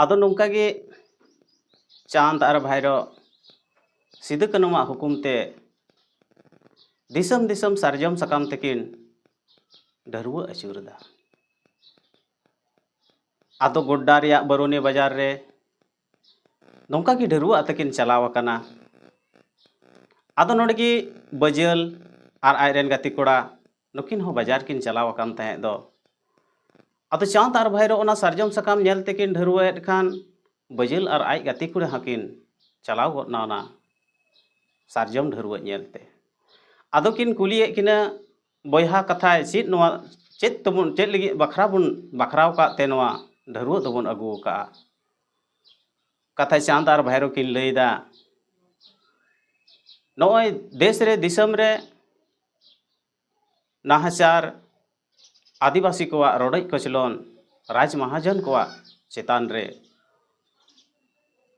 ᱟᱫᱚ ᱱᱚᱝᱠᱟ ᱜᱮ ᱪᱟᱸᱫᱽ ᱟᱨ ᱵᱷᱟᱭᱨᱚ ᱥᱤᱫᱩ ᱠᱟᱹᱱᱩᱣᱟᱜ ᱦᱩᱠᱩᱢ ᱛᱮ ᱫᱤᱥᱚᱢ ᱫᱤᱥᱚᱢ ᱥᱟᱨᱡᱚᱢ ᱥᱟᱠᱟᱢ ᱛᱮᱠᱤᱱ ᱰᱷᱟᱹᱨᱣᱟᱹ ᱟᱹᱪᱩᱨᱮᱫᱟ ᱟᱫᱚ ᱜᱚᱰᱰᱟ ᱨᱮᱭᱟᱜ ᱵᱟᱨᱩᱱᱤ ᱵᱟᱡᱟᱨ ᱨᱮ ᱱᱚᱝᱠᱟ ᱜᱮ ᱰᱷᱟᱹᱨᱣᱟᱹ ᱟᱛᱮᱠᱤᱱ ᱪᱟᱞᱟᱣ ᱟᱠᱟᱱᱟ ᱟᱫᱚ ᱱᱚᱰᱮ ᱜᱮ ᱵᱟᱹᱡᱟᱹᱞ ᱟᱨ ᱟᱡ ᱨᱮᱱ ᱜᱟᱛᱮ ᱠᱚᱲᱟ ᱱᱩᱠᱤᱱ ᱦᱚᱸ ᱵᱟᱡᱟᱨ ᱠᱤᱱ ᱪᱟᱞᱟᱣ ᱟᱠᱟᱱ ᱛᱟᱦᱮᱸᱫ ᱫᱚ ᱟᱫᱚ ᱪᱟᱸᱫᱽ ᱟᱨ ᱵᱷᱟᱭᱨᱚ ᱚᱱᱟ ᱥᱟᱨᱡᱚᱢ ᱥᱟᱠᱟᱢ ᱧᱮᱞ ᱛᱮᱠᱤᱱ ᱰᱷᱟᱹᱨᱣᱟᱹᱭᱮᱫ ᱠᱷᱟᱱ ᱵᱟᱹᱡᱟᱹᱞ ᱟᱨ ᱟᱡ ᱜᱟᱛᱮ ᱠᱩᱲᱤ ᱦᱚᱸᱠᱤᱱ ᱪᱟᱞᱟᱣ ᱜᱚᱫ ᱮᱱᱟ ᱚᱱᱟ ᱥᱟᱨᱡᱚᱢ ᱰᱷᱟᱹᱨᱣᱟᱹ ᱧᱮᱞᱛᱮ ᱟᱫᱚ ᱠᱤᱱ ᱠᱩᱞᱤᱭᱮᱫ ᱠᱤᱱᱟ ᱵᱚᱭᱦᱟ ᱠᱟᱛᱷᱟ ᱪᱮᱫ ᱱᱚᱣᱟ ᱪᱮᱫ ᱛᱮᱵᱚᱱ ᱪᱮᱫ ᱞᱟᱹᱜᱤᱫ ᱵᱟᱠᱷᱨᱟ ᱵᱚᱱ ᱵᱟᱠᱷᱨᱟᱣ ᱟᱠᱟᱫ ᱛᱮ ᱱᱚᱣᱟ ᱰᱷᱟᱹᱨᱣᱟᱹ ᱫᱚᱵᱚᱱ ᱟᱹᱜᱩ ᱟᱠᱟᱫᱼᱟ ᱠᱟᱛᱷᱟ ᱪᱟᱸᱫᱽ ᱟᱨ ᱵᱷᱟᱭᱨᱚ ᱠᱤᱱ ᱞᱟᱹᱭᱫᱟ ᱱᱚᱜᱼᱚᱭ ᱫᱮᱥ ᱨᱮ ᱫᱤᱥᱚᱢ ᱨᱮ ᱱᱟᱦᱟᱪᱟᱨ ᱟᱹᱫᱤᱵᱟᱹᱥᱤ ᱠᱚᱣᱟᱜ ᱨᱚᱰᱚᱡ ᱠᱚᱪᱞᱚᱱ ᱨᱟᱡᱽ ᱢᱟᱦᱟᱡᱚᱱ ᱠᱚᱣᱟᱜ ᱪᱮᱛᱟᱱ ᱨᱮ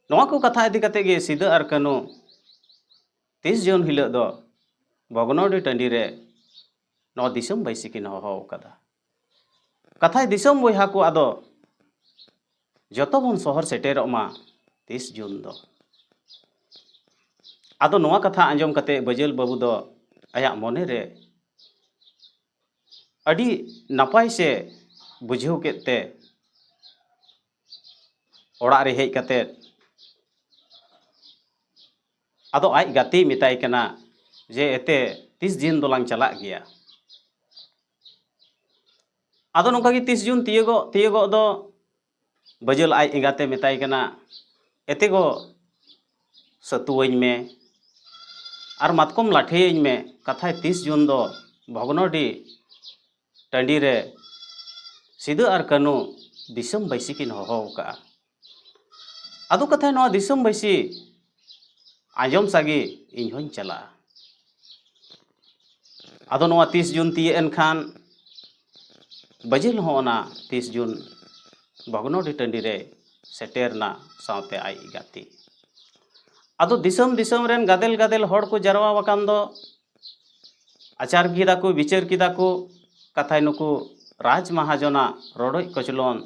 ᱱᱚᱣᱟ ᱠᱚ ᱠᱟᱛᱷᱟ ᱤᱫᱤ ᱠᱟᱛᱮ ᱜᱮ ᱥᱤᱫᱟᱹ ᱟᱨ ᱠᱟᱹᱱᱩ ᱛᱤᱥ ᱡᱩᱱ ᱦᱤᱞᱳᱜ ᱫᱚ ᱵᱷᱚᱜᱽᱱᱚᱰᱤ ᱴᱟᱺᱰᱤ ᱨᱮ ᱱᱚᱣᱟ ᱫᱤᱥᱚᱢ ᱵᱟᱹᱭᱥᱤ ᱠᱤᱱ ᱦᱚᱦᱚ ᱟᱠᱟᱫᱟ ᱠᱟᱛᱷᱟᱭ ᱫᱤᱥᱚᱢ ᱵᱚᱭᱦᱟ ᱠᱚ ᱟᱫᱚ ᱡᱚᱛᱚ ᱵᱚᱱ ᱥᱚᱦᱚᱨ ᱥᱮᱴᱮᱨᱚᱜ ᱢᱟ ᱛᱤᱥ ᱡᱩᱱ ᱫᱚ ᱟᱫᱚ ᱱᱚᱣᱟ ᱠᱟᱛᱷᱟ ᱟᱸᱡᱚᱢ ᱠᱟᱛᱮ ᱵᱟᱹᱡᱟᱹᱞ ᱵᱟᱹᱵᱩ ᱫᱚ ᱟᱭᱟᱜ ᱢᱚᱱᱮ ᱨᱮ ᱟᱹᱰᱤ ᱱᱟᱯᱟᱭ ᱥᱮ ᱵᱩᱡᱷᱟᱹᱣ ᱠᱮᱫ ᱛᱮ ᱚᱲᱟᱜ ᱨᱮ ᱦᱮᱡ ᱠᱟᱛᱮ ᱟᱫᱚ ᱟᱡ ᱜᱟᱛᱮᱭ ᱢᱮᱛᱟᱭ ᱠᱟᱱᱟ ᱡᱮ ᱮᱛᱮ ᱛᱤᱥ ᱡᱤᱱ ᱫᱚᱞᱟᱝ ᱪᱟᱞᱟᱜ ᱜᱮᱭᱟ ᱟᱫᱚ ᱱᱚᱝᱠᱟ ᱜᱮ ᱛᱤᱥ ᱡᱩᱱ ᱛᱤᱭᱳᱜᱚᱜ ᱛᱤᱭᱳᱜᱚᱜ ᱫᱚ ᱵᱟᱹᱡᱟᱹᱞ ᱟᱡ ᱮᱸᱜᱟᱛᱮ ᱢᱮᱛᱟᱭ ᱠᱟᱱᱟ ᱮᱛᱮ ᱜᱚ ᱥᱟᱹᱛᱩᱣᱟᱹᱧ ᱢᱮ ᱟᱨ ᱢᱟᱛᱠᱚᱢ ᱞᱟᱴᱷᱮᱭᱟᱹᱧ ᱢᱮ ᱠᱟᱛᱷᱟᱭ ᱛᱤᱥ ᱡᱩᱱ ᱫᱚ ᱵᱷᱚᱜᱽᱱᱚᱰᱤ ᱴᱟᱺᱰᱤ ᱨᱮ ᱥᱤᱫᱩ ᱟᱨ ᱠᱟᱹᱱᱩ ᱫᱤᱥᱚᱢ ᱵᱟᱹᱭᱥᱤ ᱠᱤᱱ ᱦᱚᱦᱚ ᱟᱠᱟᱫᱼᱟ ᱟᱫᱚ ᱠᱟᱛᱷᱟ ᱱᱚᱣᱟ ᱫᱤᱥᱚᱢ ᱵᱟᱹᱭᱥᱤ ᱟᱸᱡᱚᱢ ᱥᱟᱜᱮ ᱤᱧ ᱦᱚᱸᱧ ᱪᱟᱞᱟᱜᱼᱟ ᱟᱫᱚ ᱱᱚᱣᱟ ᱛᱤᱥ ᱡᱩᱱ ᱛᱤᱭᱟᱹᱜ ᱮᱱ ᱠᱷᱟᱱ ᱵᱟᱹᱡᱤᱞ ᱦᱚᱸ ᱚᱱᱟ ᱛᱤᱥ ᱡᱩᱱ ᱵᱷᱚᱜᱽᱱᱚᱰᱤ ᱴᱟᱺᱰᱤ ᱨᱮ ᱥᱮᱴᱮᱨᱱᱟ ᱥᱟᱶᱛᱮ ᱟᱡ ᱜᱟᱛᱮ ᱟᱫᱚ ᱫᱤᱥᱚᱢ ᱫᱤᱥᱚᱢ ᱨᱮᱱ ᱜᱟᱫᱮᱞ ᱜᱟᱫᱮᱞ ᱦᱚᱲ ᱠᱚ ᱡᱟᱨᱣᱟ ᱟᱠᱟᱱ ᱫᱚ ᱟᱪᱟᱨ ᱠᱮᱫᱟ ᱠᱚ ᱵᱤᱪᱟᱹᱨ ᱠᱮᱫᱟ ᱠᱚ ᱠᱟᱛᱷᱟᱭ ᱱᱩᱠᱩ ᱨᱟᱡᱽ ᱢᱟᱦᱟᱡᱚᱱᱟᱜ ᱨᱚᱰᱚᱡ ᱠᱚᱪᱞᱚᱱ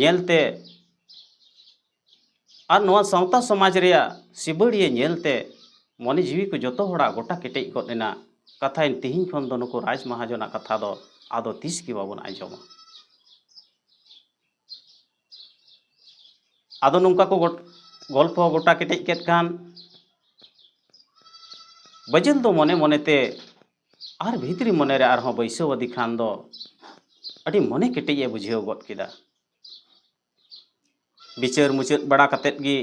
ᱧᱮᱞᱛᱮ ᱟᱨ ᱱᱚᱣᱟ ᱥᱟᱶᱛᱟ ᱥᱚᱢᱟᱡᱽ ᱨᱮᱭᱟᱜ ᱥᱤᱵᱟᱹᱲᱤᱭᱟᱹ ᱧᱮᱞᱛᱮ ᱢᱚᱱᱮ ᱡᱤᱣᱤ ᱠᱚ ᱡᱚᱛᱚ ᱦᱚᱲᱟᱜ ᱜᱚᱴᱟ ᱠᱮᱴᱮᱡ ᱜᱚᱫ ᱮᱱᱟ ᱠᱟᱛᱷᱟᱭ ᱛᱤᱦᱤᱧ ᱠᱷᱚᱱ ᱫᱚ ᱱᱩᱠᱩ ᱨᱟᱡᱽ ᱢᱟᱦᱟᱡᱚᱱᱟᱜ ᱠᱟᱛᱷᱟ ᱫᱚ ᱟᱫᱚ ᱛᱤᱥ ᱜᱮ ᱵᱟᱵᱚᱱ ᱟᱸᱡᱚᱢᱟ ᱟᱫᱚ ᱱᱚᱝᱠᱟ ᱠᱚ ᱜᱚᱞᱯᱷᱚ ᱜᱚᱴᱟ ᱠᱮᱴᱮᱡ ᱠᱮᱫ ᱠᱷᱟᱱ ᱵᱟᱹᱡᱩᱱ ᱫᱚ ᱢᱚᱱᱮ ᱢᱚᱱᱮᱛᱮ ᱟᱨ ᱵᱷᱤᱛᱨᱤ ᱢᱚᱱᱮ ᱨᱮ ᱟᱨᱦᱚᱸ ᱵᱟᱹᱭᱥᱟᱹᱣ ᱟᱫᱮ ᱠᱷᱟᱱ ᱫᱚ ᱟᱹᱰᱤ ᱢᱚᱱᱮ ᱠᱮᱴᱮᱡ ᱮ ᱵᱩᱡᱷᱟᱹᱣ ᱜᱚᱫ ᱠᱮᱫᱟ ᱵᱤᱪᱟᱹᱨ ᱢᱩᱪᱟᱹᱫ ᱵᱟᱲᱟ ᱠᱟᱛᱮᱫ ᱜᱮ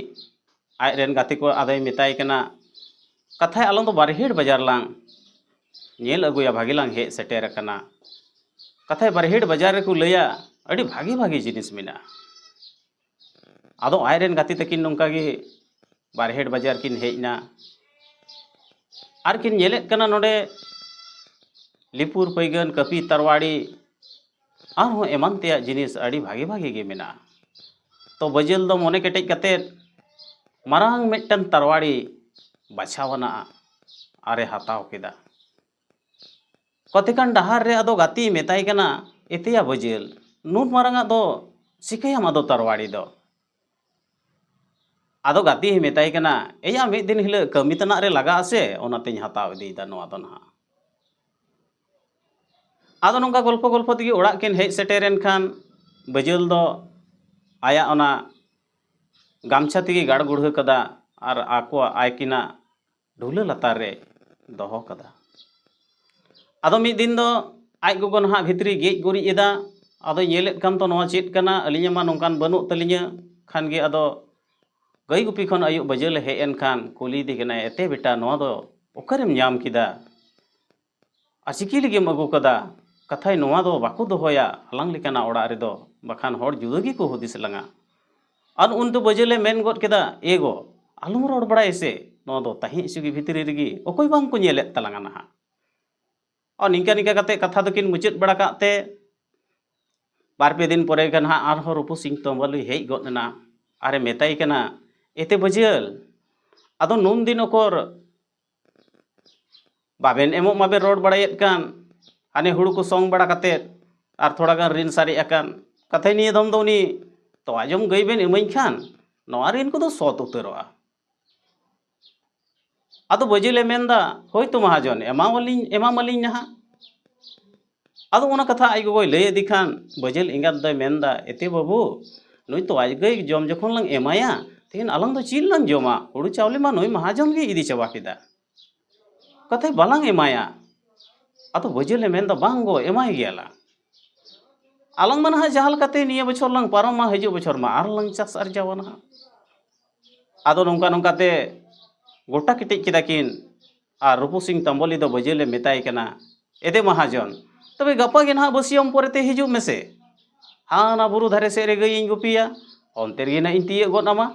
ᱟᱡ ᱨᱮᱱ ᱜᱟᱛᱮ ᱠᱚ ᱟᱫᱚᱭ ᱢᱮᱛᱟᱭ ᱠᱟᱱᱟ ᱠᱟᱛᱷᱟᱭ ᱟᱞᱟᱝ ᱫᱚ ᱵᱟᱨᱦᱮᱲ ᱵᱟᱡᱟᱨ ᱞᱟᱝ ᱧᱮᱞ ᱟᱹᱜᱩᱭᱟ ᱵᱷᱟᱜᱮ ᱞᱟᱝ ᱦᱮᱡ ᱥᱮᱴᱮᱨ ᱟᱠᱟᱱᱟ ᱠᱟᱛᱷᱟᱭ ᱵᱟᱨᱦᱮᱲ ᱵᱟᱡᱟᱨ ᱨᱮᱠᱚ ᱞᱟᱹᱭᱟ ᱟᱹᱰᱤ ᱵᱷᱟᱜᱮ ᱵᱷᱟᱜᱮ ᱡᱤᱱᱤᱥ ᱢᱮᱱᱟᱜᱼᱟ ᱟᱫᱚ ᱟᱡ ᱨᱮᱱ ᱜᱟᱛᱮ ᱛᱟᱹᱠᱤᱱ ᱱᱚᱝᱠᱟ ᱜᱮ ᱵᱟᱨᱦᱮᱴ ᱵᱟᱡᱟᱨ ᱠᱤᱱ ᱦᱮᱡ ᱮᱱᱟ ᱟᱨ ᱠᱤᱱ ᱧᱮᱞᱮᱫ ᱠᱟᱱᱟ ᱱᱚᱰᱮ ᱞᱤᱯᱩᱨ ᱯᱟᱹᱭᱜᱟᱹᱱ ᱠᱟᱹᱯᱤ ᱛᱟᱨᱣᱟᱲᱤ ᱟᱨᱦᱚᱸ ᱮᱢᱟᱱ ᱛᱮᱭᱟᱜ ᱡᱤᱱᱤᱥ ᱟᱹᱰᱤ ᱵᱷᱟᱜᱮ ᱵᱷᱟᱜᱮ ᱜᱮ ᱢᱮᱱᱟᱜᱼᱟ ᱛᱚ ᱵᱟᱹᱡᱟᱹᱞ ᱫᱚ ᱢᱚᱱᱮ ᱠᱮᱴᱮᱡ ᱠᱟᱛᱮᱫ ᱢᱟᱨᱟᱝ ᱢᱤᱫᱴᱟᱝ ᱛᱟᱨᱣᱟᱲᱤ ᱵᱟᱪᱷᱟᱣ ᱟᱱᱟᱜ ᱟᱨᱮ ᱦᱟᱛᱟᱣ ᱠᱮᱫᱟ ᱠᱚᱛᱮᱠᱟᱱ ᱰᱟᱦᱟᱨ ᱨᱮ ᱟᱫᱚ ᱜᱟᱛᱮᱭ ᱢᱮᱛᱟᱭ ᱠᱟᱱᱟ ᱮᱛᱮᱭᱟ ᱵᱟᱹᱡᱟᱹᱞ ᱱᱩᱱ ᱢᱟᱨᱟᱝᱟᱜ ᱫᱚ ᱪᱤᱠᱟᱹᱭᱟᱢ ᱟᱫᱚ ᱛᱟᱨᱣᱟᱲᱤ ᱫᱚ ᱟᱫᱚ ᱜᱟᱛᱮᱭ ᱢᱮᱛᱟᱭ ᱠᱟᱱᱟ ᱮᱭᱟ ᱢᱤᱫ ᱫᱤᱱ ᱦᱤᱞᱳᱜ ᱠᱟᱹᱢᱤ ᱛᱮᱱᱟᱜ ᱨᱮ ᱞᱟᱜᱟᱜ ᱟᱥᱮ ᱚᱱᱟᱛᱮᱧ ᱦᱟᱛᱟᱣ ᱤᱫᱤᱭᱮᱫᱟ ᱱᱚᱣᱟ ᱫᱚ ᱱᱟᱦᱟᱜ ᱟᱫᱚ ᱱᱚᱝᱠᱟ ᱜᱚᱞᱯᱷᱚ ᱜᱚᱞᱯᱷᱚ ᱛᱮᱜᱮ ᱚᱲᱟᱜ ᱠᱤᱱ ᱦᱮᱡ ᱥᱮᱴᱮᱨᱮᱱ ᱠᱷᱟᱱ ᱵᱟᱹᱡᱟᱹᱞ ᱫᱚ ᱟᱭᱟᱜ ᱚᱱᱟ ᱜᱟᱢᱪᱷᱟ ᱛᱮᱜᱮ ᱜᱟᱲ ᱜᱩᱲᱦᱟᱹ ᱠᱟᱫᱟ ᱟᱨ ᱟᱠᱚᱣᱟᱜ ᱟᱭᱠᱤᱱᱟᱜ ᱰᱷᱩᱞᱟᱹ ᱞᱟᱛᱟᱨ ᱨᱮ ᱫᱚᱦᱚ ᱠᱟᱫᱟ ᱟᱫᱚ ᱢᱤᱫ ᱫᱤᱱ ᱫᱚ ᱟᱡ ᱜᱚᱜᱚ ᱱᱟᱦᱟᱜ ᱵᱷᱤᱛᱨᱤ ᱜᱮᱡ ᱜᱩᱨᱤᱡ ᱮᱫᱟ ᱟᱫᱚᱭ ᱧᱮᱞᱮᱫ ᱠᱟᱱ ᱛᱚ ᱱᱚᱣᱟ ᱪᱮᱫ ᱠᱟᱱᱟ ᱟᱹᱞᱤᱧᱟᱜ ᱢᱟ ᱱᱚᱝᱠᱟᱱ ᱵᱟᱹᱱᱩᱜ ᱛᱟᱹᱞᱤᱧᱟ ᱠᱷᱟᱱ ᱜᱮ ᱟᱫᱚ ᱜᱟᱹᱭ ᱜᱩᱯᱤ ᱠᱷᱚᱱ ᱟᱹᱭᱩᱵ ᱵᱟᱹᱡᱟᱹᱞᱮ ᱦᱮᱡ ᱮᱱ ᱠᱷᱟᱱ ᱠᱩᱞᱤᱭᱮᱫᱮ ᱠᱟᱱᱟᱭ ᱮᱛᱮ ᱵᱮᱴᱟ ᱱᱚᱣᱟ ᱫᱚ ᱚᱠᱟᱨᱮᱢ ᱧᱟᱢ ᱠᱮᱫᱟ ᱟᱪᱤᱠᱤ ᱞᱟᱹᱜᱤᱫ ᱮᱢ ᱟᱹᱜᱩ ᱠᱟᱫᱟ ᱠᱟᱛᱷᱟᱡ ᱱᱚᱣᱟ ᱫᱚ ᱵᱟᱠᱚ ᱫᱚᱦᱚᱭᱟ ᱟᱞᱟᱝ ᱞᱮᱠᱟᱱᱟᱜ ᱚᱲᱟᱜ ᱨᱮᱫᱚ ᱵᱟᱠᱷᱟᱱ ᱦᱚᱲ ᱡᱩᱫᱟᱹ ᱜᱮᱠᱚ ᱦᱩᱫᱤᱥ ᱞᱟᱝᱟ ᱟᱨ ᱩᱱ ᱫᱚ ᱵᱟᱹᱡᱟᱹᱞᱮ ᱢᱮᱱ ᱜᱚᱫ ᱠᱮᱫᱟ ᱮ ᱜᱚ ᱟᱞᱚᱢ ᱨᱚᱲ ᱵᱟᱲᱟᱭᱟ ᱥᱮ ᱱᱚᱣᱟ ᱫᱚ ᱛᱟᱦᱮᱸ ᱦᱚᱪᱚᱜᱮ ᱵᱷᱤᱛᱨᱤ ᱨᱮᱜᱮ ᱚᱠᱚᱭ ᱵᱟᱝ ᱠᱚ ᱧᱮᱞᱮᱫ ᱛᱟᱞᱟᱝᱟ ᱱᱟᱦᱟᱜ ᱟᱨ ᱱᱤᱝᱠᱟ ᱱᱤᱝᱠᱟ ᱠᱟᱛᱮ ᱠᱟᱛᱷᱟ ᱫᱚᱠᱤᱱ ᱢᱩᱪᱟᱹᱫ ᱵᱟᱲᱟ ᱠᱟᱜ ᱛᱮ ᱵᱟᱨ ᱯᱮ ᱫᱤᱱ ᱯᱚᱨᱮ ᱜᱮ ᱱᱟᱦᱟᱜ ᱟᱨᱦᱚᱸ ᱨᱩᱯᱩ ᱥᱤᱝ ᱛᱚᱢᱵᱟᱞᱩᱭ ᱦᱮᱡ ᱜᱚᱫ ᱮᱱᱟ ᱟᱨᱮ ᱢᱮᱛᱟᱭ ᱠᱟᱱᱟ ᱮᱛᱮ ᱵᱟᱹᱡᱟᱹᱞ ᱟᱫᱚ ᱱᱩᱱ ᱫᱤᱱ ᱚᱠᱚᱨ ᱵᱟᱵᱮᱱ ᱮᱢᱚᱜ ᱢᱟᱵᱮᱱ ᱨᱚᱲ ᱵᱟᱲᱟᱭᱮᱫ ᱠᱟᱱ ᱦᱟᱱᱮ ᱦᱩᱲᱩ ᱠᱚ ᱥᱚᱝ ᱵᱟᱲᱟ ᱠᱟᱛᱮᱫ ᱟᱨ ᱛᱷᱚᱲᱟ ᱜᱟᱱ ᱨᱤᱱ ᱥᱟᱨᱮᱡ ᱟᱠᱟᱱ ᱠᱟᱛᱷᱟᱡ ᱱᱤᱭᱟᱹ ᱫᱚᱢ ᱫᱚ ᱩᱱᱤ ᱛᱚᱣᱟ ᱡᱚᱢ ᱜᱟᱹᱭ ᱵᱮᱱ ᱤᱢᱟᱹᱧ ᱠᱷᱟᱱ ᱱᱚᱣᱟ ᱨᱤᱱ ᱠᱚᱫᱚ ᱥᱚᱛ ᱩᱛᱟᱹᱨᱚᱜᱼᱟ ᱟᱫᱚ ᱵᱟᱹᱡᱤᱞᱮ ᱢᱮᱱᱫᱟ ᱦᱳᱭᱛᱳ ᱢᱟᱦᱟᱡᱚᱱ ᱮᱢᱟᱣᱟᱞᱤᱧ ᱮᱢᱟᱢᱟᱞᱤᱧ ᱱᱟᱦᱟᱜ ᱟᱫᱚ ᱚᱱᱟ ᱠᱟᱛᱷᱟ ᱟᱡ ᱜᱚᱜᱚᱭ ᱞᱟᱹᱭ ᱟᱫᱮ ᱠᱷᱟᱱ ᱵᱟᱹᱡᱟᱹᱞ ᱮᱸᱜᱟᱛ ᱫᱚᱭ ᱢᱮᱱᱫᱟ ᱮᱛᱮ ᱵᱟᱹᱵᱩ ᱱᱩᱭ ᱛᱚᱣᱟ ᱜᱟᱹᱭ ᱡᱚᱢ ᱡᱚᱠᱷᱚᱱ ᱞᱟᱝ ᱮᱢᱟᱭᱟ ᱛᱮᱦᱮᱧ ᱟᱞᱟᱝ ᱫᱚ ᱪᱮᱫ ᱞᱟᱝ ᱡᱚᱢᱟ ᱦᱩᱲᱩ ᱪᱟᱣᱞᱮ ᱢᱟ ᱱᱩᱭ ᱢᱟᱦᱟᱡᱚᱱ ᱜᱮᱭ ᱤᱫᱤ ᱪᱟᱵᱟ ᱠᱮᱫᱟ ᱠᱟᱛᱮ ᱵᱟᱞᱟᱝ ᱮᱢᱟᱭᱟ ᱟᱫᱚ ᱵᱟᱹᱡᱟᱹᱞᱮ ᱢᱮᱱᱫᱟ ᱵᱟᱝ ᱜᱚ ᱮᱢᱟᱭ ᱜᱮᱭᱟᱞᱟᱝ ᱟᱞᱟᱝ ᱢᱟ ᱱᱟᱦᱟᱜ ᱡᱟᱦᱟᱸ ᱞᱮᱠᱟᱛᱮ ᱱᱤᱭᱟᱹ ᱵᱚᱪᱷᱚᱨ ᱞᱟᱝ ᱯᱟᱨᱚᱢᱟ ᱦᱤᱡᱩᱜ ᱵᱚᱪᱷᱚᱨ ᱢᱟ ᱟᱨ ᱞᱟᱝ ᱪᱟᱥ ᱟᱨᱡᱟᱣᱟ ᱱᱟᱦᱟᱜ ᱟᱫᱚ ᱱᱚᱝᱠᱟ ᱱᱚᱝᱠᱟᱛᱮ ᱜᱚᱴᱟ ᱠᱮᱴᱮᱡ ᱠᱮᱫᱟ ᱠᱤᱱ ᱟᱨ ᱨᱩᱯᱩ ᱥᱤᱝ ᱛᱟᱢᱵᱚᱞᱤ ᱫᱚ ᱵᱟᱹᱡᱟᱹᱞᱮ ᱢᱮᱛᱟᱭ ᱠᱟᱱᱟ ᱮᱫᱮ ᱢᱟᱦᱟᱡᱚᱱ ᱛᱚᱵᱮ ᱜᱟᱯᱟ ᱜᱮ ᱱᱟᱦᱟᱜ ᱵᱟᱹᱥᱭᱟᱹᱢ ᱯᱚᱨᱮᱛᱮ ᱦᱤᱡᱩᱜ ᱢᱮᱥᱮ ᱦᱟᱱᱟ ᱵᱩᱨᱩ ᱫᱷᱟᱨᱮ ᱥᱮᱫ ᱨᱮ ᱜᱟᱹᱭᱤᱧ ᱜᱩᱯᱤᱭᱟ ᱚᱱᱛᱮ ᱨᱮᱜᱮ ᱱᱟᱦᱟᱜ ᱤᱧ ᱛᱤᱭᱟᱹᱜ ᱜᱚᱫ ᱟᱢᱟ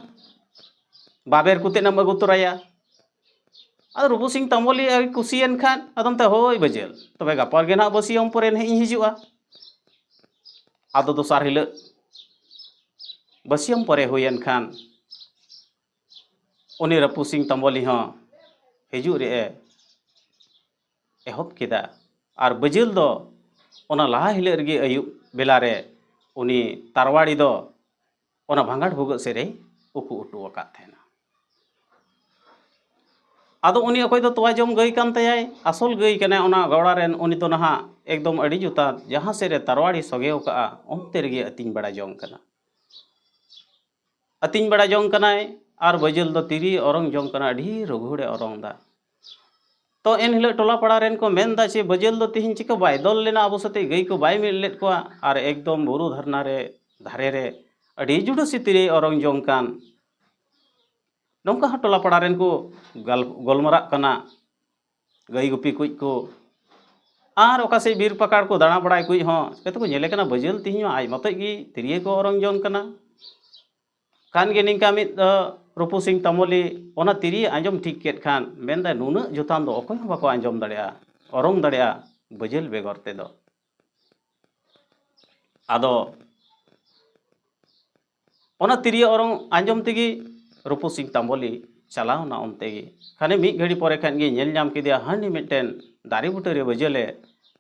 ᱵᱟᱵᱮᱨ ᱠᱚᱛᱮ ᱱᱟᱢ ᱟᱹᱜᱩ ᱛᱚᱨᱟᱭᱟ ᱟᱫᱚ ᱨᱩᱯᱩ ᱥᱤᱝ ᱛᱟᱢᱵᱚᱞᱤ ᱟᱹᱰᱤ ᱠᱩᱥᱤᱭᱮᱱ ᱠᱷᱟᱱ ᱟᱫᱚ ᱢᱮᱛᱟᱭᱟ ᱦᱳᱭ ᱵᱟᱹᱡᱟᱹᱞ ᱛᱚᱵᱮ ᱜᱟᱯᱟ ᱜᱮ ᱱᱟᱦᱟᱜ ᱵᱟᱹᱥᱭᱟᱹᱢ ᱯᱚᱨᱮ ᱱᱟᱦᱟᱜ ᱤᱧ ᱦᱤᱡᱩᱜᱼᱟ ᱟᱫᱚ ᱫᱚᱥᱟᱨ ᱦᱤᱞᱳᱜ ᱵᱟᱹᱥᱭᱟᱹᱢ ᱯᱚᱨᱮ ᱦᱩᱭᱮᱱ ᱠᱷᱟᱱ ᱩᱱᱤ ᱨᱟᱹᱯᱩᱫ ᱥᱤᱝ ᱛᱚᱢᱵᱚᱞᱤ ᱦᱚᱸ ᱦᱤᱡᱩᱜ ᱨᱮᱭᱟᱜ ᱮ ᱮᱦᱚᱵ ᱠᱮᱫᱟ ᱟᱨ ᱵᱟᱹᱡᱟᱹᱞ ᱫᱚ ᱚᱱᱟ ᱞᱟᱦᱟ ᱦᱤᱞᱳᱜ ᱨᱮᱜᱮ ᱟᱹᱭᱩᱵ ᱵᱮᱞᱟ ᱨᱮ ᱩᱱᱤ ᱛᱟᱨᱣᱟᱲᱤ ᱫᱚ ᱚᱱᱟ ᱵᱷᱟᱸᱜᱟᱲ ᱵᱷᱩᱜᱟᱹᱜ ᱥᱮᱫ ᱨᱮᱭ ᱩᱠᱩ ᱦᱚᱴᱚ ᱟᱠᱟᱫ ᱛᱟᱦᱮᱱᱟ ᱟᱫᱚ ᱩᱱᱤ ᱚᱠᱚᱭ ᱫᱚ ᱛᱚᱣᱟ ᱡᱚᱢ ᱜᱟᱹᱭ ᱠᱟᱱ ᱛᱟᱭᱟᱭ ᱟᱥᱚᱞ ᱜᱟᱹᱭ ᱠᱟᱱᱟᱭ ᱚᱱᱟ ᱜᱟᱣᱲᱟ ᱨᱮᱱ ᱩᱱᱤ ᱫᱚ ᱱᱟᱦᱟᱜ ᱮᱠᱫᱚᱢ ᱟᱹᱰᱤ ᱡᱚᱛᱷᱟᱛ ᱡᱟᱦᱟᱸ ᱥᱮᱫ ᱨᱮ ᱛᱟᱨᱣᱟᱲᱤ ᱥᱚᱜᱮ ᱟᱠᱟᱫᱼᱟ ᱚᱱᱛᱮ ᱨᱮᱜᱮ ᱟᱹᱛᱤᱧ ᱵᱟᱲᱟ ᱡᱚᱝ ᱠᱟᱱᱟ ᱟᱹᱛᱤᱧ ᱵᱟᱲᱟ ᱡᱚᱝ ᱠᱟᱱᱟᱭ ᱟᱨ ᱵᱟᱹᱡᱟᱹᱞ ᱫᱚ ᱛᱤᱨᱤ ᱚᱨᱚᱝ ᱡᱚᱝ ᱠᱟᱱᱟᱭ ᱟᱹᱰᱤ ᱨᱚᱜᱷᱩᱲᱮ ᱚᱨᱚᱝᱫᱟ ᱛᱚ ᱮᱱ ᱦᱤᱞᱳᱜ ᱴᱚᱞᱟ ᱯᱟᱲᱟ ᱨᱮᱱ ᱠᱚ ᱢᱮᱱᱫᱟ ᱪᱮ ᱵᱟᱹᱡᱟᱹᱞ ᱫᱚ ᱛᱤᱦᱤᱧ ᱪᱤᱠᱟᱹ ᱵᱟᱭ ᱫᱚᱞ ᱞᱮᱱᱟ ᱟᱵᱚ ᱥᱟᱛᱮ ᱜᱟᱹᱭ ᱠᱚ ᱵᱟᱭ ᱢᱤᱫ ᱞᱮᱫ ᱠᱚᱣᱟ ᱟᱨ ᱮᱠᱫᱚᱢ ᱵᱩᱨᱩ ᱫᱷᱟᱨᱱᱟ ᱨᱮ ᱫᱷᱟᱨᱮ ᱨᱮ ᱟᱹᱰᱤ ᱡᱩᱰᱩᱥᱤ ᱛᱤᱨᱤ ᱚᱨᱚᱝ ᱡᱚᱝ ᱠᱟᱱ ᱱᱚᱝᱠᱟ ᱦᱚᱸ ᱴᱚᱞᱟ ᱯᱟᱲᱟ ᱨᱮᱱ ᱠᱚ ᱜᱟᱞ ᱜᱟᱞᱢᱟᱨᱟᱜ ᱠᱟᱱᱟ ᱜᱟᱹᱭ ᱜᱩᱯᱤ ᱠᱩᱡ ᱠᱚ ᱟᱨ ᱚᱠᱟ ᱥᱮᱫ ᱵᱤᱨ ᱯᱟᱠᱟᱲ ᱠᱚ ᱫᱟᱬᱟ ᱵᱟᱲᱟᱭ ᱠᱩᱡ ᱦᱚᱸ ᱪᱤᱠᱟᱹ ᱛᱮᱠᱚ ᱧᱮᱞᱮ ᱠᱟᱱᱟ ᱵᱟᱹᱡᱟᱹᱞ ᱛᱮᱦᱮᱧ ᱢᱟ ᱟᱡ ᱢᱚᱛᱚᱡ ᱜᱮ ᱛᱤᱨᱭᱟᱹ ᱠᱚ ᱚᱨᱚᱝ ᱡᱚᱝ ᱠᱟᱱᱟ ᱠᱟᱱ ᱜᱮ ᱱᱤᱝᱠᱟ ᱢᱤᱫ ᱨᱩᱯᱩ ᱥᱤᱝ ᱛᱟᱢᱚᱞᱤ ᱚᱱᱟ ᱛᱤᱨᱭᱟᱹ ᱟᱸᱡᱚᱢ ᱴᱷᱤᱠ ᱠᱮᱫ ᱠᱷᱟᱱ ᱢᱮᱱᱫᱟᱭ ᱱᱩᱱᱟᱹᱜ ᱡᱚᱛᱟᱱ ᱫᱚ ᱚᱠᱚᱭ ᱦᱚᱸ ᱵᱟᱠᱚ ᱟᱸᱡᱚᱢ ᱫᱟᱲᱮᱭᱟᱜᱼᱟ ᱚᱨᱚᱝ ᱫᱟᱲᱮᱭᱟᱜᱼᱟ ᱵᱟᱹᱡᱟᱹᱞ ᱵᱮᱜᱚᱨ ᱛᱮᱫᱚ ᱟᱫᱚ ᱚᱱᱟ ᱛᱤᱨᱭᱳ ᱚᱨᱚᱝ ᱟᱸᱡᱚᱢ ᱛᱮᱜᱮ ᱨᱩᱯᱩ ᱥᱤᱝ ᱛᱟᱢᱵᱚᱞᱤ ᱪᱟᱞᱟᱣᱱᱟ ᱚᱱᱛᱮ ᱜᱮ ᱠᱷᱟᱱᱮ ᱢᱤᱫ ᱜᱷᱟᱹᱲᱤ ᱯᱚᱨᱮ ᱠᱷᱟᱱ ᱜᱮ ᱧᱮᱞ ᱧᱟᱢ ᱠᱮᱫᱮᱭᱟ ᱦᱟᱹᱱᱤ ᱢᱤᱫᱴᱮᱱ ᱫᱟᱨᱮ ᱵᱩᱴᱟᱹᱨᱮ ᱵᱟᱹᱡᱟᱹᱞᱮ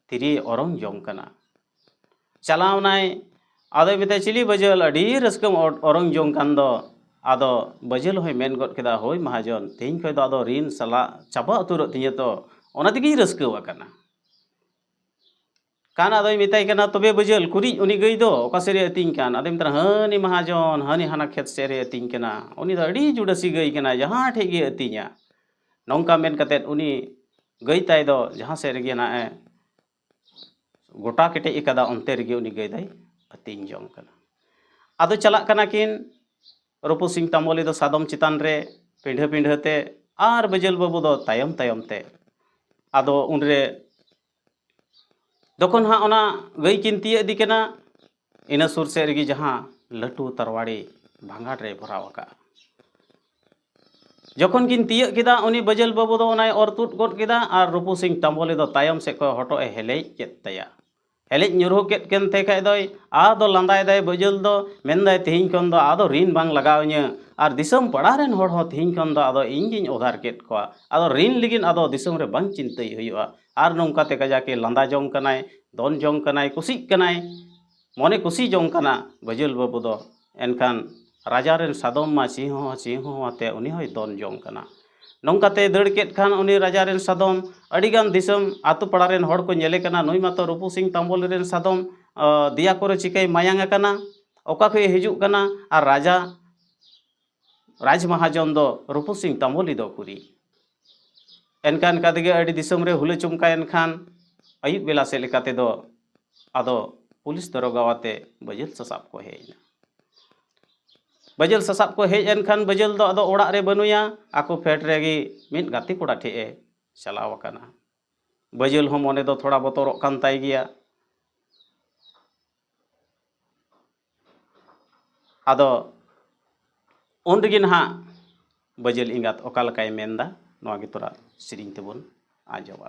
ᱛᱤᱨᱭᱳᱭ ᱚᱨᱚᱝ ᱡᱚᱝ ᱠᱟᱱᱟ ᱪᱟᱞᱟᱣᱱᱟᱭ ᱟᱫᱚᱭ ᱢᱮᱛᱟᱭ ᱪᱤᱞᱤ ᱵᱟᱹᱡᱟᱹᱞ ᱟᱹᱰᱤ ᱨᱟᱹᱥᱠᱟᱹᱢ ᱚᱨᱚᱝ ᱡᱚᱝ ᱠᱟᱱ ᱫᱚ ᱟᱫᱚ ᱵᱟᱹᱡᱟᱹᱞ ᱦᱚᱸᱭ ᱢᱮᱱ ᱜᱚᱫ ᱠᱮᱫᱟ ᱦᱳᱭ ᱢᱟᱦᱟᱡᱚᱱ ᱛᱮᱦᱮᱧ ᱠᱷᱚᱱ ᱫᱚ ᱟᱫᱚ ᱨᱤᱱ ᱥᱟᱞᱟᱜ ᱪᱟᱵᱟ ᱩᱛᱟᱹᱨᱚᱜ ᱛᱤᱧᱟᱹ ᱛᱚ ᱚᱱᱟ ᱛᱮᱜᱮᱧ ᱨᱟᱹᱥᱠᱟᱹᱣ ᱟᱠᱟᱱᱟ ᱠᱟᱱ ᱟᱫᱚᱭ ᱢᱮᱛᱟᱭ ᱠᱟᱱᱟ ᱛᱚᱵᱮ ᱵᱟᱹᱡᱟᱹᱞ ᱠᱩᱨᱤᱡ ᱩᱱᱤ ᱜᱟᱹᱭ ᱫᱚ ᱚᱠᱟ ᱥᱮᱫ ᱨᱮ ᱟᱹᱛᱤᱧ ᱠᱟᱱ ᱟᱫᱚᱭ ᱢᱮᱛᱟᱭ ᱦᱟᱹᱱᱤ ᱢᱟᱦᱟᱡᱚᱱ ᱦᱟᱹᱱᱤ ᱦᱟᱱᱟ ᱠᱷᱮᱛ ᱥᱮᱫ ᱨᱮ ᱟᱹᱛᱤᱧ ᱠᱟᱱᱟ ᱩᱱᱤ ᱫᱚ ᱟᱹᱰᱤ ᱡᱩᱰᱟᱹᱥᱤ ᱜᱟᱹᱭ ᱠᱟᱱᱟ ᱡᱟᱦᱟᱸ ᱴᱷᱮᱡ ᱜᱮ ᱟᱹᱛᱤᱧᱟ ᱱᱚᱝᱠᱟ ᱢᱮᱱ ᱠᱟᱛᱮ ᱩᱱᱤ ᱜᱟᱹᱭ ᱛᱟᱭ ᱫᱚ ᱡᱟᱦᱟᱸ ᱥᱮᱫ ᱨᱮᱜᱮ ᱱᱟᱜ ᱮ ᱜᱚᱴᱟ ᱠᱮᱴᱮᱡ ᱟᱠᱟᱫᱟ ᱚᱱᱛᱮ ᱨᱮᱜᱮ ᱩᱱᱤ ᱜᱟᱹᱭ ᱫᱚᱭ ᱟᱹᱛᱤᱧ ᱡᱚᱝ ᱠᱟᱱᱟ ᱟᱫᱚ ᱪᱟᱞᱟᱜ ᱠᱟᱱᱟ ᱠᱤᱱ ᱨᱩᱯᱩ ᱥᱤᱝ ᱛᱟᱢᱵᱚᱞᱤ ᱫᱚ ᱥᱟᱫᱚᱢ ᱪᱮᱛᱟᱱ ᱨᱮ ᱯᱤᱸᱰᱷᱟᱹ ᱯᱤᱸᱰᱷᱟᱹ ᱛᱮ ᱟᱨ ᱵᱟᱹᱡᱟᱹᱞ ᱵᱟᱹᱵᱩ ᱫᱚ ᱛᱟᱭᱚᱢ ᱛᱟᱭᱚᱢ ᱛᱮ ᱟᱫᱚ ᱩᱱᱨᱮ ᱡᱚᱠᱷᱚᱱ ᱦᱟᱸᱜ ᱚᱱᱟ ᱜᱟᱹᱭ ᱠᱤᱱ ᱛᱤᱭᱟᱹᱜ ᱤᱫᱤ ᱠᱤᱱᱟ ᱤᱱᱟᱹ ᱥᱩᱨ ᱥᱮᱫ ᱨᱮᱜᱮ ᱡᱟᱦᱟᱸ ᱞᱟᱹᱴᱩ ᱛᱟᱨᱣᱟᱲᱤ ᱵᱷᱟᱸᱜᱟᱲ ᱨᱮᱭ ᱵᱷᱚᱨᱟᱣ ᱟᱠᱟᱫᱼᱟ ᱡᱚᱠᱷᱚᱱ ᱠᱤᱱ ᱛᱤᱭᱟᱹᱜ ᱠᱮᱫᱟ ᱩᱱᱤ ᱵᱟᱹᱡᱟᱹᱞ ᱵᱟᱹᱵᱩ ᱫᱚ ᱚᱱᱟᱭ ᱚᱨ ᱛᱩᱫ ᱜᱚᱫ ᱠᱮᱫᱟ ᱟᱨ ᱨᱩᱯᱩ ᱥᱤᱝ ᱛᱟᱢᱵᱚᱞᱤ ᱫᱚ ᱛᱟᱭᱚᱢ ᱥᱮᱫ ᱠᱷᱚᱱ ᱦᱚᱴᱚᱜ ᱮ ᱦᱮᱞᱮᱡ ᱠᱮᱫ ᱛᱟᱭᱟ ᱦᱮᱞᱮᱡ ᱧᱩᱨᱦᱩ ᱠᱮᱫ ᱠᱟᱱ ᱛᱮ ᱠᱷᱟᱡ ᱫᱚᱭ ᱟᱫᱚ ᱞᱟᱸᱫᱟᱭᱮᱫᱟᱭ ᱵᱟᱹᱡᱟᱹᱞ ᱫᱚ ᱢᱮᱱᱫᱟᱭ ᱛᱮᱦᱮᱧ ᱠᱷᱚᱱ ᱫᱚ ᱟᱫᱚ ᱨᱤᱱ ᱵᱟᱝ ᱞᱟᱜᱟᱣ ᱤᱧᱟᱹ ᱟᱨ ᱫᱤᱥᱚᱢ ᱯᱟᱲᱟ ᱨᱮᱱ ᱦᱚᱲ ᱦᱚᱸ ᱛᱮᱦᱮᱧ ᱠᱷᱚᱱ ᱫᱚ ᱟᱫᱚ ᱤᱧ ᱜᱤᱧ ᱚᱫᱷᱟᱨ ᱠᱮᱫ ᱠᱚᱣᱟ ᱟᱫᱚ ᱨᱤᱱ ᱞᱟᱹᱜᱤᱫ ᱟᱫᱚ ᱫᱤᱥᱚᱢ ᱨᱮ ᱵᱟᱝ ᱪᱤᱱᱛᱟᱹᱭ ᱦᱩᱭᱩᱜᱼᱟ ᱟᱨ ᱱᱚᱝᱠᱟᱛᱮ ᱠᱟᱡᱟᱠᱮ ᱞᱟᱸᱫᱟ ᱡᱚᱝ ᱠᱟᱱᱟᱭ ᱫᱚᱱ ᱡᱚᱝ ᱠᱟᱱᱟᱭ ᱠᱩᱥᱤᱜ ᱠᱟᱱᱟᱭ ᱢᱚᱱᱮ ᱠᱩᱥᱤ ᱡᱚᱝ ᱠᱟᱱᱟ ᱵᱟᱹᱡᱟᱹᱞ ᱵᱟᱹᱵᱩ ᱫᱚ ᱮᱱᱠᱷᱟᱱ ᱨᱟᱡᱟ ᱨᱮᱱ ᱥᱟᱫᱚᱢ ᱢᱟ ᱪᱤᱦᱩ ᱦᱚᱸ ᱪᱤᱦᱩ ᱦᱚᱸ ᱟᱛᱮ ᱩᱱᱤ ᱦᱚᱸᱭ ᱫᱚᱱ ᱡᱚᱝ ᱠᱟᱱᱟ ᱱᱚᱝᱠᱟᱛᱮ ᱫᱟᱹᱲ ᱠᱮᱫ ᱠᱷᱟᱱ ᱩᱱᱤ ᱨᱟᱡᱟ ᱨᱮᱱ ᱥᱟᱫᱚᱢ ᱟᱹᱰᱤ ᱜᱟᱱ ᱫᱤᱥᱚᱢ ᱟᱛᱳ ᱯᱟᱲᱟ ᱨᱮᱱ ᱦᱚᱲ ᱠᱚ ᱧᱮᱞᱮ ᱠᱟᱱᱟ ᱱᱩᱭ ᱢᱟᱛᱚ ᱨᱩᱯᱩ ᱥᱤᱝ ᱛᱟᱢᱵᱚᱞ ᱨᱮᱱ ᱥᱟᱫᱚᱢ ᱫᱮᱭᱟ ᱠᱚᱨᱮ ᱪᱤᱠᱟᱹᱭ ᱢᱟᱭᱟᱝ ᱟᱠᱟᱱᱟ ᱚᱠᱟ ᱠᱷᱚᱱᱮ ᱦᱤᱡᱩᱜ ᱠᱟᱱᱟ ᱟᱨ ᱨᱟᱡᱟ ᱨᱟᱡᱽ ᱢᱟᱦᱟᱡᱚᱱ ᱫᱚ ᱨᱩᱯᱩ ᱥᱤᱝ ᱛᱟᱢᱵᱚᱞᱤ ᱫᱚ ᱠᱩᱨᱤ ᱮᱱᱠᱟ ᱮᱱᱠᱟ ᱛᱮᱜᱮ ᱟᱹᱰᱤ ᱫᱤᱥᱚᱢ ᱨᱮ ᱦᱩᱞᱟᱹ ᱪᱚᱢᱠᱟᱭᱮᱱ ᱠᱷᱟᱱ ᱟᱹᱭᱩᱵ ᱵᱮᱞᱟ ᱥᱮᱫ ᱞᱮᱠᱟ ᱛᱮᱫᱚ ᱟᱫᱚ ᱯᱩᱞᱤᱥ ᱫᱚᱨᱚᱜᱟ ᱟᱛᱮ ᱵᱟᱹᱡᱟᱹᱞ ᱥᱟᱥᱟᱵ ᱠᱚ ᱦᱮᱡ ᱮᱱᱟ ᱵᱟᱹᱡᱟᱹᱞ ᱥᱟᱥᱟᱵ ᱠᱚ ᱦᱮᱡ ᱮᱱ ᱠᱷᱟᱱ ᱵᱟᱹᱡᱟᱹᱞ ᱫᱚ ᱟᱫᱚ ᱚᱲᱟᱜ ᱨᱮ ᱵᱟᱹᱱᱩᱭᱟ ᱟᱠᱚ ᱯᱷᱮᱰ ᱨᱮᱜᱮ ᱢᱤᱫ ᱜᱟᱛᱮ ᱠᱚᱲᱟ ᱴᱷᱮᱡ ᱮ ᱪᱟᱞᱟᱣ ᱟᱠᱟᱱᱟ ᱵᱟᱹᱡᱟᱹᱞ ᱦᱚᱸ ᱢᱚᱱᱮ ᱫᱚ ᱛᱷᱚᱲᱟ ᱵᱚᱛᱚᱨᱚᱜ ᱠᱟᱱ ᱛᱟᱭ ᱜᱮᱭᱟ ᱟᱫᱚ ᱩᱱ ᱨᱮᱜᱮ ᱱᱟᱦᱟᱜ ᱵᱟᱹᱡᱟᱹᱞ ᱮᱸᱜᱟᱛ ᱚᱠᱟ ᱞᱮᱠᱟᱭ ᱢᱮᱱᱫᱟ ᱱᱚᱣᱟ ᱜᱮ ᱛᱚᱨᱟ ᱥᱮᱨᱮᱧ ᱛᱮᱵᱚᱱ ᱟᱸᱡᱚᱢᱟ